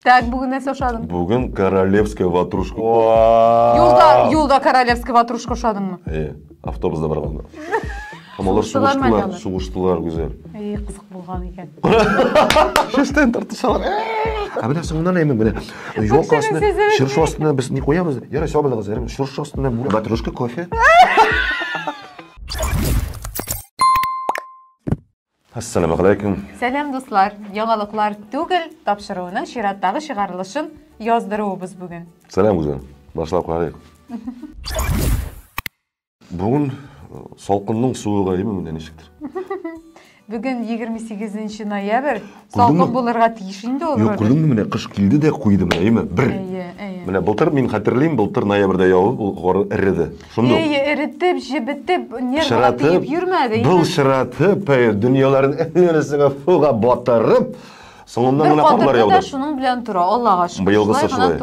Так, бүген нәрсә ошадың? Бүген королевская ватрушка. Юлда, юлда королевская ватрушка ошадыңмы? Э, автобуста барганда. Һәм алар сугыштылар, сугыштылар гүзәл. Эй, кызык булган икән. Шештән тартышалар. Ә менә соңыннан әйме менә. Юк астына, чыршы астына без не куябыз. Ярый, сау булыгыз, ярый. Чыршы астына бүләк. Батрушка кофе. Ассаләмәгаләйкүм! Сәлам дуслар! Яңалыклар түгел, тапшыруының чираттагы чыгарылышын яздыруыбыз бүген. Сәлам үзем! Башлап карыйк. Бүген салкынның суыгаеме менә ничектер. Бүген егерме сигезенче ноябрь. Салкын булырга тиеш инде ул. Юк, күрдеңме, менә кыш килде дә куйды менә, әйеме? Бер. Әйе, әйе. Менә былтыр мин хәтерлим, былтыр ноябрьдә явып, ул гор эреде. Шундый. Әйе, эретеп, җебетеп, нервга тиеп йөрмәде. Былчыратып, әйе, дөньяларын әйләнәсенә фуга батырып, соңыннан гына карлар яуды. Бер шуның белән тора, Аллага шөкер. Быелгысы шулай.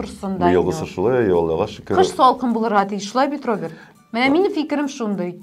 Быелгысы шулай, әйе, Аллага шөкер. Кыш салкын булырга тиеш, шулай бит, Роберт? Менә минем фикерем шундый.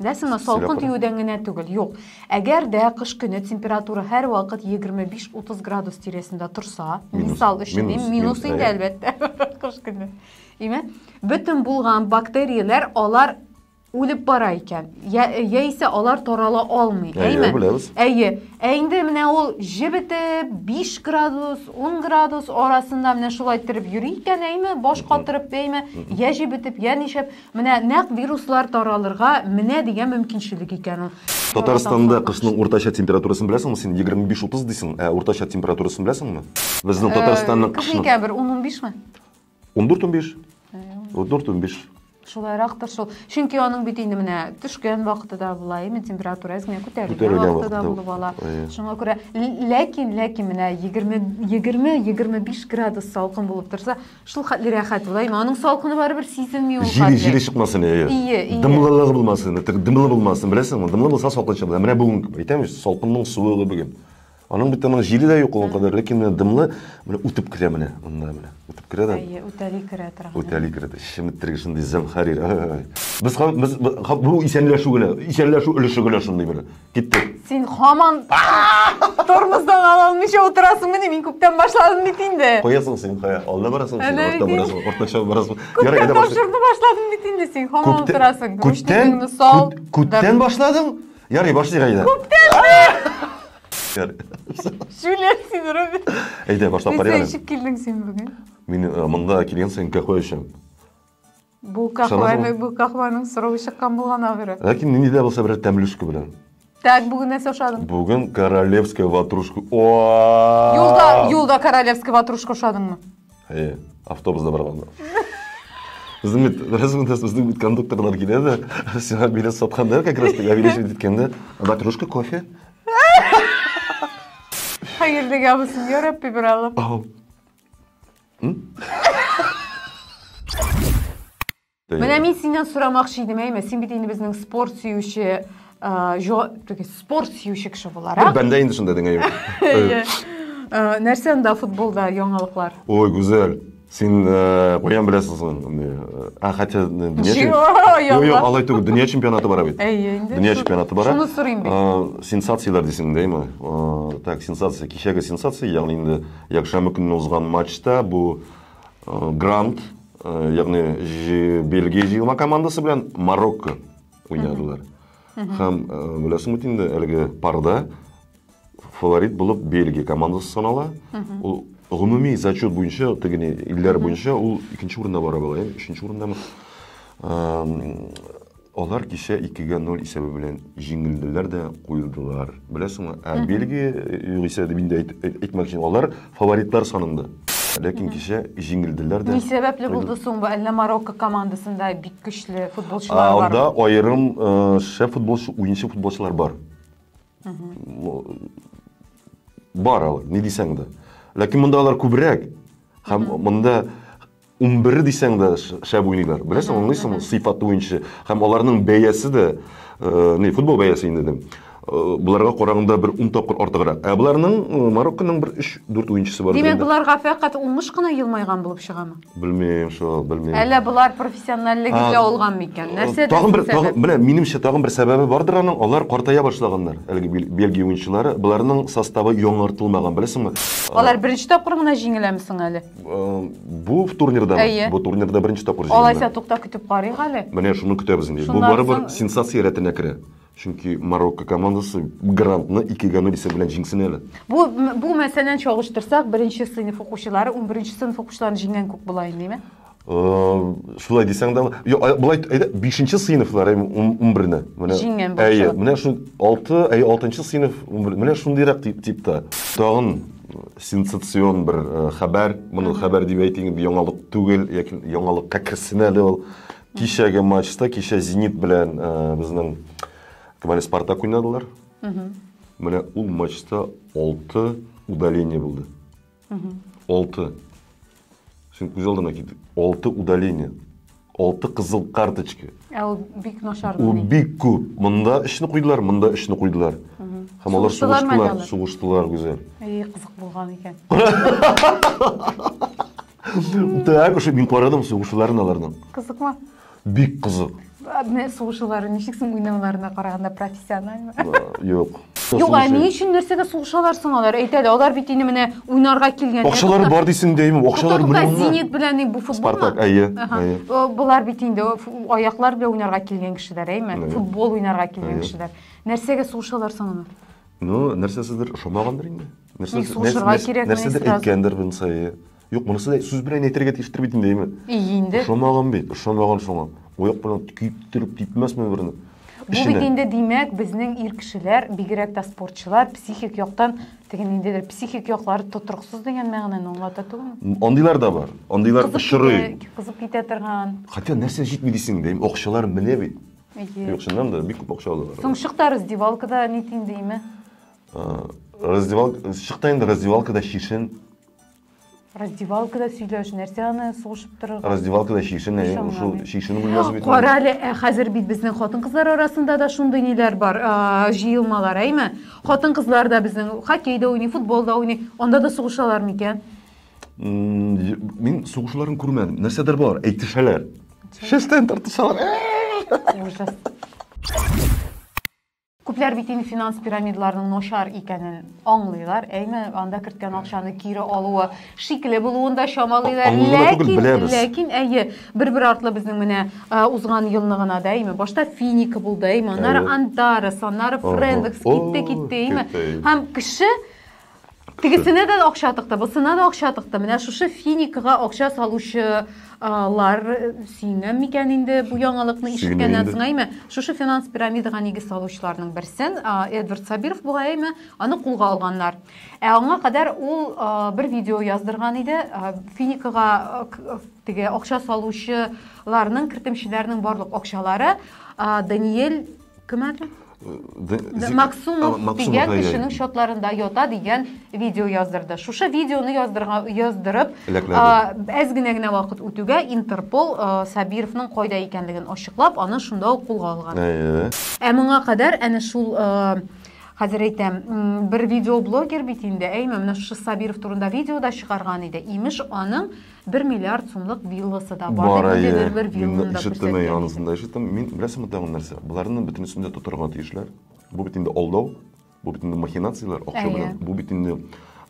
Дә сына, салкын тиюдән генә түгел, юк. Әгәр дә кыш көне температура һәрвакыт 25-30 градус тирәсендә торса, мисал өчен, минус инде, әлбәттә, кыш көне. Име? Бөтен булган бактерияләр алар үлеп бара икән. Я, яисә алар тарала алмый. Әйе, беләбез. Әйе. Ә инде менә ул җебетеп, 5 градус, 10 градус арасында менә шулай торып йөри икән, әйме, баш катырып, әйме, я җебетеп, я ничәп. Менә нәкъ вируслар таралырга менә дигән мөмкинчелек икән ул. Татарстанда кышның уртача температурасын беләсеңме син? 25-30 дисең, ә уртача температурасын беләсеңме? Безнең э, Татарстанның кышны. Күпме икән бер 10-15 ме? 14-15. 14-15. Шулайрактыр шул. Чөнки аның бит инде менә төшкән вакыты да була, именно температура әзгә күтәрелгән вакыты да булып ала. Шуңа күрә ләкин ләкин менә 20 20 25 градус салкын булып торса, Шул хәтле рәхәт ул, әйме, аның салкыны барыбер сизелми ул Җире, хәтле. җире чыкмасын, әйе. Ие, ие. Дымлылыгы булмасын, тек дымлы булмасын, беләсеңме? Дымлы булса салкынча була. Менә бүген әйтәм бит, салкынның суыгы бүген. Аның бит аның җире дә юк ул кадәр, ләкин менә дымлы, менә үтеп керә менә, монда менә. Үтеп керә дә. Әйе, үтәли керә торган. Үтәли керә дә. Чеметтерге шундый зәмхәрир. Ай-ай-ай. Без, ха- без, ха- бу исәнләшү генә, исәнләшү өлеше генә шундый бер. Киттек. Син хаман тормоздан ала алмыйча утырасың мени, мин күптән башладым бит инде. Куясың син, куя. Алда барасың, син орта барасың, ортача барасың. Ярый, әйдә башлыйк. Тапшырды башладым бит инде син, хаман утырасың. Күптән, күптән башладың? Ярый, башлыйк әйдә. Күптән! Шүләр син, Робин. Әйдә, башлап карыйк әле. Нисә эчеп килдең син бүген? Мин монда килгән саен кәхуә эчәм. Бу кахваны, бу кахваның срогы чыккан булган ахыры. Ләкин нинди дә булса берәр тәмле өске белән. Так, бүген нәрсә ашадың? Бүген королевская ватрушка. Юлда, юлда королевская ватрушка ашадыңмы? Әйе, автобуста барганда. Безнең бит, беләсең, безнең бит кондукторлар килә дә, сиңа билет сатканда, как раз таки, авиалечит иткәндә, ватрушка, кофе. Хәерлегә булсын, я Рабби, бер алып. Менә мин синнән сорамакчы идем, әйме, син бит инде безнең спорт сөюче, спорт сөюче кеше буларак. Бәндә инде шунда деңә юк. Нәрсә анда футболда яңалыклар? Ой, Гүзәл, син каян беләсең соң? Ә хәтта дөнья Юк, алай түгел, дөнья чемпионаты бара бит. Әйе, инде. Дөнья чемпионаты бара. Шуны сорыйм бит. Сенсацияләр дисең дә, әйме? Так, сенсация, кичәге сенсация, ягъни инде Якшәмбе көнне узган матчта бу Грант, ягъни Бельгия җыелма командасы белән Марокко уйнадылар. Һәм беләсең бит инде әлеге парда фаворит булып Бельгия командасы санала. Ул гомуми зачет буенча, тегене илләр буенча ул икенче урында бара була, өченче урындамы? Алар кичә 2-гә 0 исәбе белән җиңелделәр дә куелдылар. Беләсеңме? Ә Бельгия, э, югыйсә дип инде әйт- әйт- әйтмәк өчен, алар фаворитлар санында. Ләкин кичә җиңелделәр дә. Ни сәбәпле куелдылар. булды соң бу? Әллә Марокко командасында бик көчле А, футболчылар бар? Анда аерым э, шәп футболчы, уенчы футболчылар бар. Ну, Бар алар, ни дисәң дә. Ләкин монда алар күбрәк. Һәм монда Унбер дисәң дә шәп уйныйлар. Беләсең, аңлыйсыңмы, сыйфаты буенча. Һәм аларның бәясе дә, не, футбол бәясе инде дим. Боларга караганда бер ун тапкыр артыграк. Ә боларның Марокконың бер 3-4 уенчысы бар. Димәк, боларга фәкать уңыш кына елмайган булып чыгамы? Белмим, шул, белмим. Әллә болар профессиональлегендә алган микән? Нәрсәдә? Тагын бер, тагын, менә минемчә, тагын бер сәбәбе бардыр аның, алар картая башлаганнар. Әлеге Бельгия уенчылары, боларның составы яңартылмаган, беләсеңме? Алар беренче тапкыр гына җиңеләме соң әле? Бу турнирда Әйе. бу турнирда беренче тапкыр җиңелде. Алайса тукта көтеп карыйк әле. Менә шуны көтәбез инде. Бу барыбер соң... сенсация рәтенә керә. Чөнки Марокко командасы грантны 2-гә 0 исәп белән җиңсен әле. Бу бу мәсәлән чагыштырсак, беренче сыйныф укучылары 11 сыйныф укучыларын җиңгән күк була инде, шулай дисәң дә былай әйдә бишенче сыйныфлар ун берне менә җиңгән әйе менә шул алты әйе алтынчы сыйныф менә шундыйрак тип типта тагын сенсацион бер э, хәбәр, моны хәбәр дип әйтим, яңалык түгел, яки яңалыкка керсен әле ул. Кичәге матчта, кичә Зенит белән э, безнең Камале Спартак уйнадылар. Менә ул матчта 6 удаление булды. 6. Син күз алдына кит. Алты удаление. Алты кызыл карточка. Ә ул бик начар. Ул бик күп. Монда өчне куйдылар, монда өчне куйдылар. Һәм алар сугыштылар, сугыштылар гүзәл. Эй, кызык булган икән. Так, ушы мин карадым сугышуларын аларның. Кызыкмы? Бик кызык. Адны сугышулары ничек соң уйнауларына караганда профессиональмы? Юк. Юк, ә ни өчен нәрсәгә сугышалар соң алар? Әйт әле, алар бит инде менә уйнарга килгән. Акчалары бар дисең дәйме, акчалар миллионнар. Зенит белән бу футбол. Спартак, әйе, әйе. Болар бит инде аяклар белән уйнарга килгән кешеләр, әйме? Футбол уйнарга килгән кешеләр. Нәрсәгә сугышалар соң алар? Ну, нәрсәсездер ошамагандыр инде. Нәрсәсездер әйткәндер булса, әйе. Юк, монысы да сүз белән әйтергә тиештер бит инде, И инде. Ошамаган бит, ошамаган шуңа. Ояк белән көйттереп типмәсме берне? Бу бит инде димәк, безнең ир кешеләр, бигрәк тә спортчылар, психик яктан теге ниндидер психик яклары тотрыксыз дигән мәгънәне аңлата түгелме? Андыйлар да бар. Андыйлар очрый. Кызып китә торган. Хотя нәрсә җитми дисең дә, акчалар менә бит. Юк, чыннан да бик күп акча алалар. Соң чыкта раздевалкада нитин димме? Раздевалка, чыкта инде раздевалкада шишен Раздевалкада сөйләш, нәрсә аны сугышып торырга? Раздевалкада чишен, ә ул шул чишен бүлмәсе бит. Кара әле, ә хәзер бит безнең хатын-кызлар арасында да шундый ниләр бар, җыелмалар, әйме? Хатын-кызлар да безнең хоккей да уйный, футбол да уйный. Анда да сугышалар микән? Мин сугышуларын күрмәдем. Нәрсәдер бар, әйтешәләр. Шештән тартышалар. Ужас. Күпләр бит инде финанс пирамидаларының начар икәнен аңлыйлар, әйме, анда керткән акчаны кире алуы шикле булуын да чамалыйлар. Ләкин, ләкин әйе, бер-бер артлы безнең менә узган елны гына да, әйме, башта Финика булды, әйме, аннары Антарес, аннары Френдекс китте, китте, әйме. Һәм кеше Тегесенә дә акча тыкты, бусына да акча тыкты. Менә шушы финикага акча салучылар э, сөенгән микән инде бу яңалыкны ишеткәннән соң әйме? Шушы финанс пирамидага нигез салучыларның берсен Эдвард Сабиров була әйме? Аны кулга алганнар. Ә аңа кадәр ул бер видео яздырган иде. Финикага теге акча салучыларның кертемчеләрнең барлык акчалары Даниэль Кем әле? Максумов дигән кешенең счетларында ята дигән видео яздырды. Шушы видеоны яздырга яздырып, әз генә генә вакыт үтүгә Интерпол Сабировның кайда икәнлеген ачыклап, аны шунда ук кулга алган. Ә моңа кадәр әнә шул хәзер әйтәм, бер видеоблогер бит инде, әйме, менә шушы Сабиров турында видео да чыгарган иде. Имеш, аның Бер миллиард сумлык вилласы да бар, бар дип инде бер вилланы да күрсәткән. Мин анысын да ишеттем. Мин беләсеңме тагын нәрсә? Боларның бөтенесен дә тотарга тиешләр. Бу бит инде алдау, бу бит инде махинацияләр, акча белән. Бу бит инде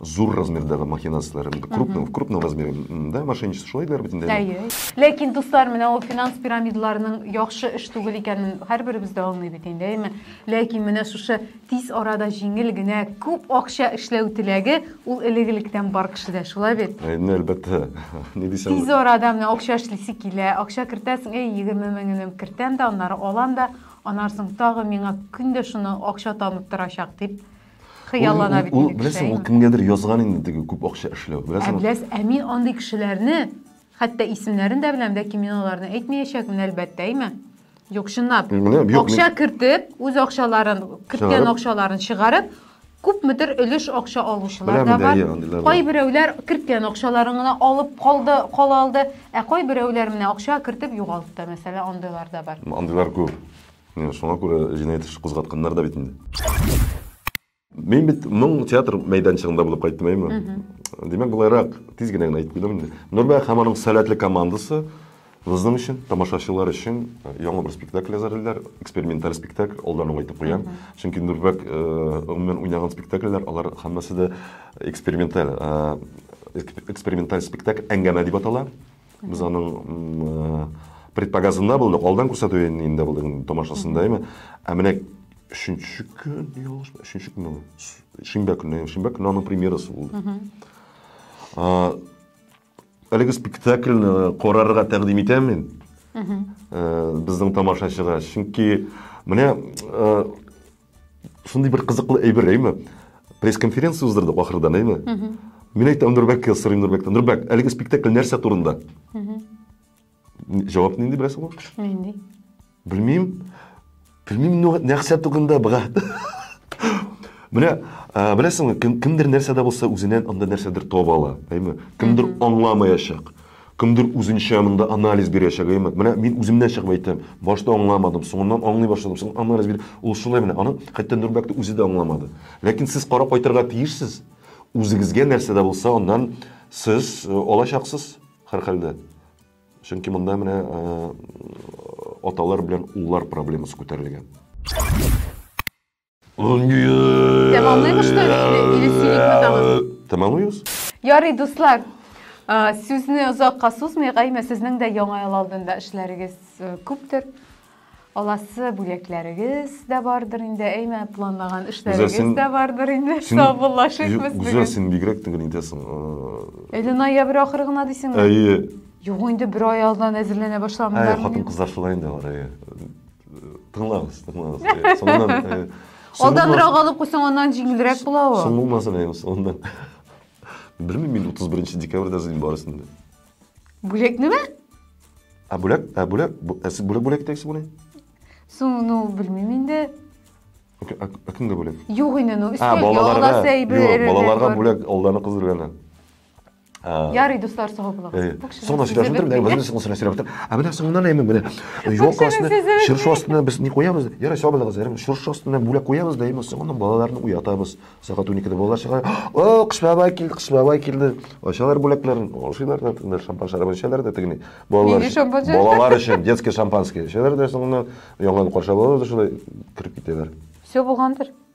зур размердагы махинацияләр, инде крупный, в крупном размере, да, мошенничество шулай диләр бит инде. Әйе. Ләкин, дуслар, менә ул финанс пирамидаларының яхшы эш түгел икәнен һәрберебез дә аңлый бит инде, әйеме? Ләкин менә шушы Тиз арада җиңел генә күп акча эшләү теләге ул элек-электән бар кешедә, шулай бит? Әйне, әлбәттә. Ни дисәң Тиз арада менә акча эшлисе килә, акча кертәсең, әй, егерме меңенем кертәм дә, аннары алам да, аннары соң тагы миңа көн дә шуны акча табып торачак дип хыяллана бит инде кеше. Беләсең, ул кемгәдер язган инде теге күп акча эшләү. Беләсең? Ә беләс, ә мин андый кешеләрне, хәтта исемнәрен дә беләм, ләкин мин аларны әйтмәячәкмен, әлбәттә, әйме? Юк, чынлап. Акча кертеп, үз акчаларын, керткән акчаларын чыгарып, күпмедер өлеш акча алучылар да бар. Кайберәүләр керткән акчаларын гына алып калды, кала алды, ә кайберәүләр менә акча кертеп югалтты, мәсәлән, андыйлар да бар. Андыйлар күп. Шуңа күрә җинаять эше кузгатканнар да бит инде. Мин бит моң театр мәйданчыгында булып кайттым, әйме? Димәк, болайрак тиз генә генә әйтеп куйдым инде. Нурбәк һәм аның сәләтле командасы безнең өчен, тамашачылар өчен э, яңа бер спектакль әзерлиләр, эксперименталь спектакль, алдан ук әйтеп куям. Чөнки Нурбәк э, гомумән уйнаган спектакльләр, алар һәммәсе дә эксперименталь э, эксперименталь спектакль әңгәмә дип атала. Без аның предпоказында булдык, алдан күрсәтү инде булдык тамашасында, әйме. Ә менә өченче көн, ялгышмы, өченче көнме? Шимбә көне, шимбә көне аның премьерасы булды. Әлеге спектакльне карарга тәкъдим итәм мин. Безнең тамашачыга, чөнки менә Шундый бер кызыклы әйбер, әйме? Пресс-конференция уздырдык ахырдан, әйме? Мин әйтәм Нурбәккә сорыйм Нурбәктән. Нурбәк, әлеге спектакль нәрсә турында? Җавап нинди беләсеңме? Нинди? Белмим. Белмим нәрсә турында, брат. Менә беләсеңме, кемдер нәрсәдә булса үзеннән анда нәрсәдер таба ала, әйме? Кемдер аңламаячак. Кемдер үзенчә монда анализ бирәчәк, әйеме? Менә мин үземнән чыгып әйтәм, башта аңламадым, соңыннан аңлый башладым, соң анализ бир. Ул шулай менә, аны хәтта Нурбәк тә үзе дә аңламады. Ләкин сез карап кайтырга тиешсез. Үзегезгә нәрсә дә булса аннан сез алачаксыз, һәрхәлдә. Чөнки монда менә аталар белән уллар проблемасы күтәрелгән. Тәмамлыймы, что ли, или- или сөйликме тагын? Тәмамлыйбыз. Ярый, дуслар, а, сүзне озакка сузмыйк, әйме, сезнең дә Яңа ел алдында эшләрегез э, күптер. Аласы бүләкләрегез дә бардыр инде, әйме, планлаган эшләрегез син- дә бардыр инде. Син- Саубуллашыйк без Гүзәл, бүген. син бигрәк төгәл итәсең. Э, Әле ноябрь ахыры гына дисеңме? Әйе, Юк, инде бер ай алдан әзерләнә әйе, башлаганнар. хатын-кызлар шулай инде алар, әйе. Тыңлагыз, тыңлагыз. Э, Соңыннан э, Алданрак алып куйсаң, аннан җиңелрәк була ул. Соң булмасын әйем, соңыннан. Белмим мин 31 декабрьдә зин барысын. Бүләк нәмә? Ә бүләк, ә бүләк, ә сез бүләк бүләк итәксез буны? Соң, ну, белмим инде. Ә кемгә бүләк? Юк инде, ну, өстәлгә аласы әйбер. Балаларга бүләк, алланы кыздырганы. Ярый, дуслар, сау булыгыз. Соңына сөйләшеп бетердем, дә үзем соңына сөйләшеп бетердем. Ә менә соңыннан әйме менә. Юк астына, чыршы астына без ни куябыз? Ярый, сау булыгыз, ярым. Чыршы астына бүләк куябыз да, әйме соңыннан балаларны уятабыз. Сәгать 12-дә балалар чыга. О, кыш бабай килде, кыш бабай килде. Ачалар бүләкләрен, ашыйлар да, тыңлар шампан шәрабын эчәләр дә тегене. Балалар. Балалар өчен детский шампанский эчәләр дә соңыннан яңа каршы алалар да шулай кереп китәләр. Все булгандыр.